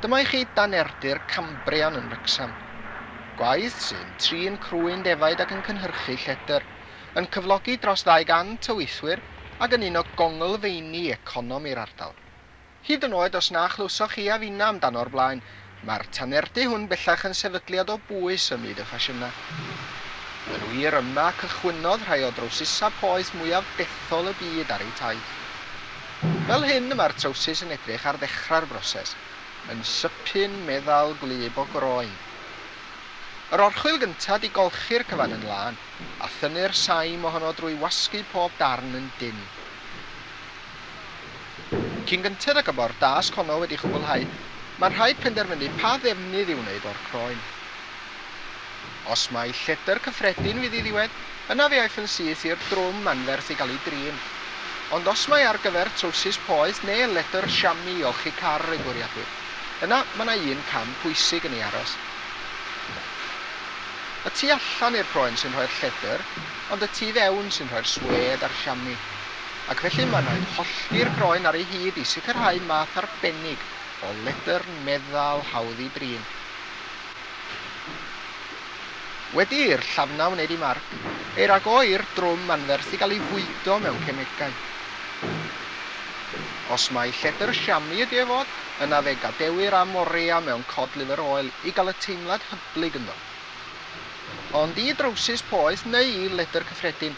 Dyma i chi danerdy'r Cambrian yn Wrecsam. Gwaith sy'n trin crwyn defaid ac yn cynhyrchu lledr, yn cyflogi dros 200 o weithwyr ac yn un o gonglfeini economi'r ardal. Hyd yn oed os na chlywsoch chi a finna amdano o'r blaen, Mae'r tanerddu hwn bellach yn sefydliad o bwys ym myd y ffasiynau. Yn wir, yma cychwynnodd rhai o drowsusau poeth mwyaf dethol y byd ar eu taith. Fel hyn y mae'r trowsus yn edrych ar ddechrau'r broses, yn sypyn, meddal, gwlyb o groen. Yr orchwyl gyntaf di golchi'r cyfan yn lân, a thynnu'r saim ohono drwy wasgu pob darn yn dynn. Cyn gynted ag y mae'r dasg honno wedi chwblhau, mae'n rhaid penderfynu pa ddefnydd i'w wneud o'r croen. Os mai lledr cyffredin fydd ei ddiwedd, yna fe aiff yn syth i'r drwm anferth i gael ei drin. Ond os mai ar gyfer trowsus poeth neu ledr siami i olchi car ei bwriadir, yna mae yna un cam pwysig yn ei aros. Y tu allan i'r croen sy'n rhoi'r lledr, ond y tu fewn sy'n rhoi'r swêd a'r siami. ac felly mae'n rhaid hollti'r groen ar ei hyd i sicrhau math arbennig o ledr meddal hawdd i drin. Wedi i'r llafnau wneud eu marc, ei ragoi'r drwm anferth i gael ei fwydo mewn cemegau. Os mai lledr siami ydy ef fod, yna fe gadewir am orea mewn cod liver oil i gael y teimlad hyblyg ynddo. Ond i drowsus poeth neu i ledr cyffredin,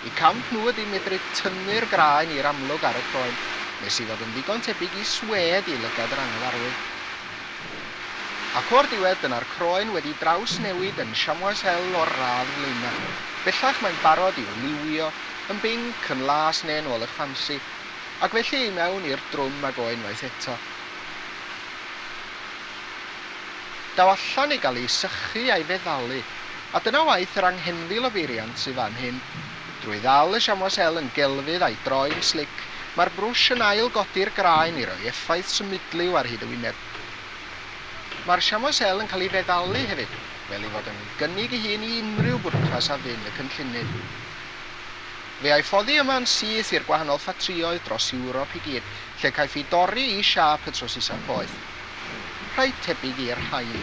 Y camp nhw ydy medru tynnu'r graen i'r amlwg ar y croen, nes i fod yn ddigon tebyg i swêd i lygad yr anghyfarwydd. Ac o'r diwedd, dyna'r croen wedi drawsnewid yn Chamois Hell o'r radd flaenaf. Bellach mae'n barod i'w liwio, yn binc, yn las neu'n ôl y ffansi, ac felly i mewn i'r drwm ag o unwaith eto. Daw allan i gael ei sychu a'i feddalu. A dyna waith yr anghenfil o beiriant sydd fan hyn. Drwy ddal y siamwas el yn gelfydd a'i droi'n slic, mae'r brwsh yn ail-godi'r graen i roi effaith symudliw ar hyd y wyneb. Mae'r siamwas el yn cael ei feddalu hefyd, fel ei fod yn gynnig ei hun i unrhyw bwrpas a fyn y cynllunydd. Fe ai foddi yma yn syth i'r gwahanol ffatrïoedd dros Ewrop i gyd, lle caiff i dorri i siâp y trowsusau poeth. Rhai tebyg i'r rhain.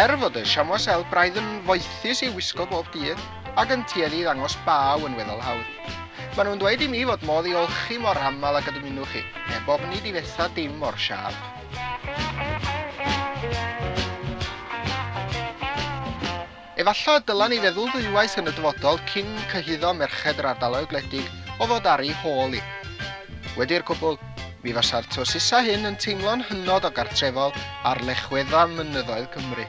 Er fod y siamo sel braidd yn foethus ei wisgo bob dydd, ac yn tueddu i ddangos baw yn weddol hawdd. Maen nhw'n dweud i mi fod modd i olchi mor aml ag y dymunwch chi, heb ofni difetha dim o'r siâp. Efallai y dylen ni feddwl ddwywaith yn y dyfodol cyn cyhuddo merched yr ardaloedd gwledig o fod ar eu hôl i. Wedi'r cwbl, mi fasa'r trwsisau hyn yn teimlo'n hynod o gartrefol ar lechwedda mynyddoedd Cymru.